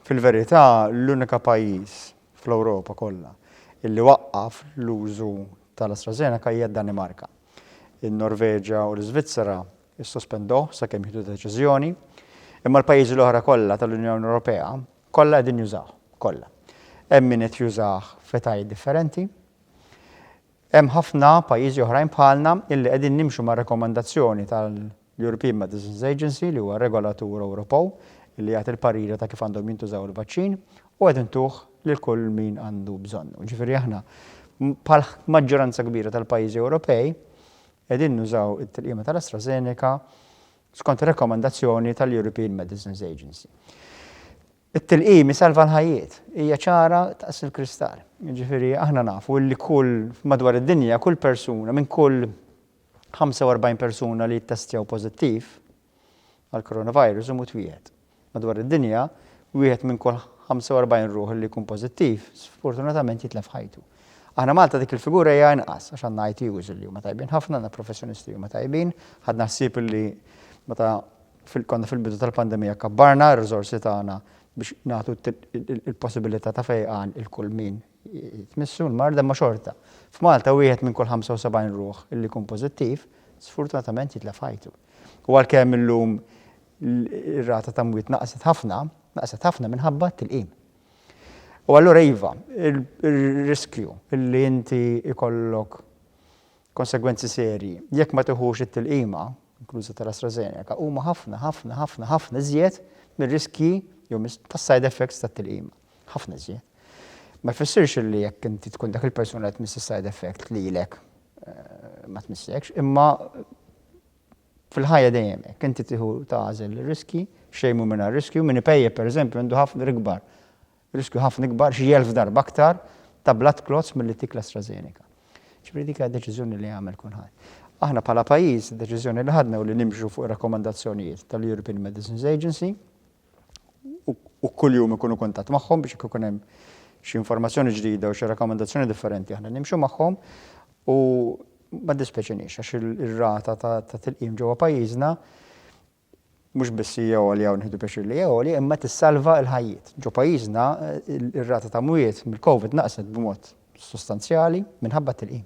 Fil-verità, l-unika pajjiż fl-Ewropa kollha illi waqqaf l-użu tal-AstraZeneca hija d-Danimarka. In-Norveġja u l-Iżvizzera ssospenduh sakemm jieħdu deċiżjoni, imma l-pajjiżi l-oħra kollha tal-Unjoni Ewropea kollha qegħdin jużawh, kollha. Hemm min qed jużah f'etajiet differenti. Hemm ħafna pajjiżi oħrajn bħalna illi qegħdin nimxu mar-rakkomandazzjoni l-European Medicines Agency, li huwa regolatur Ewropew li jagħti l-pariri ta' kif għandhom jintużaw il-vaċċin, u qed intuh lil kull min għandu bżonnu. Jiġifieri aħna bħal maġġoranza kbira tal-pajjiżi Ewropej qegħdin nużaw it-tilqima tal-AstraZeneca skont ir-rakkomandazzjoni tal-European Medicines Agency. It-tilqim isalva l-ħajjiet, hija ċara daqs il-kristall. Jiġifieri aħna nafu li kull madwar id-dinja kull persuna minn kull 45 persuna li ttestjaw pożittiv għall-coronavirus imut wieħed. Madwar id-dinja, wieħed minn kull 45 ruħ li jkun pożittiv sfortunatament jitlef ħajtu. Aħna Malta dik il-figura hija inqas għax għandna ITUs li huma tajbin ħafna, għandna professjonisti li huma tajbin, ħadna ħsieb li meta konna fil-bidu tal-pandemija kabbarna r-riżorsi tagħna biex nagħtu l-possibilità ta' fejqan 'il kull min tmissu l-marda imma xorta. F'Malta wieħed minn kull 75 ruħ li jkun pożittiv sfurtunatament jitlef ħajtu. U għalkemm illum ir-rata ta' mwiet naqset ħafna, naqset ħafna minħabba t-tilqim. U allura iva, ir-riskju li inti ikollok konsegwenzi serji jekk ma tiħux it-tilqima, inkluża tal-AstraZeneca, huma ħafna, ħafna, ħafna, ħafna iżjed mir-riskji jew tas-side effects tat-tilqima. Ħafna iżjed. Ma jfissirx li jekk inti tkun dak il-persuna li tmiss side effect li lek eh, ma tmissekx, imma fil-ħajja dejjem hekk inti tieħu tażel riski, xejn mhu minn riskju, minn ipejje pereżempju għandu ħafna ikbar. Riskju ħafna ikbar xi jelf darba aktar ta' blood clots mill-li tikla AstraZeneca. Ġifieri dik deċiżjoni li jagħmel kulħadd. Aħna bħala pajjiż, deċiżjoni li ħadna u li nimxu fuq rakkomandazzjonijiet tal-European Medicines Agency, u kuljum ikunu kuntatt magħhom biex jekk ikun hemm xi informazzjoni ġdida u xi rakkomandazzjoni differenti aħna nimxu magħhom u ma ddispjaċiniex għax ir-rata ta' tilqim ġewwa pajjiżna mhux biss hija għolja u nieħdu pjaċir li hija għolja imma tissalva l-ħajjiet. Ġo pajjiżna ir-rata ta' mwiet mill-COVID naqset b'mod sostanzjali minħabba t-tilqim.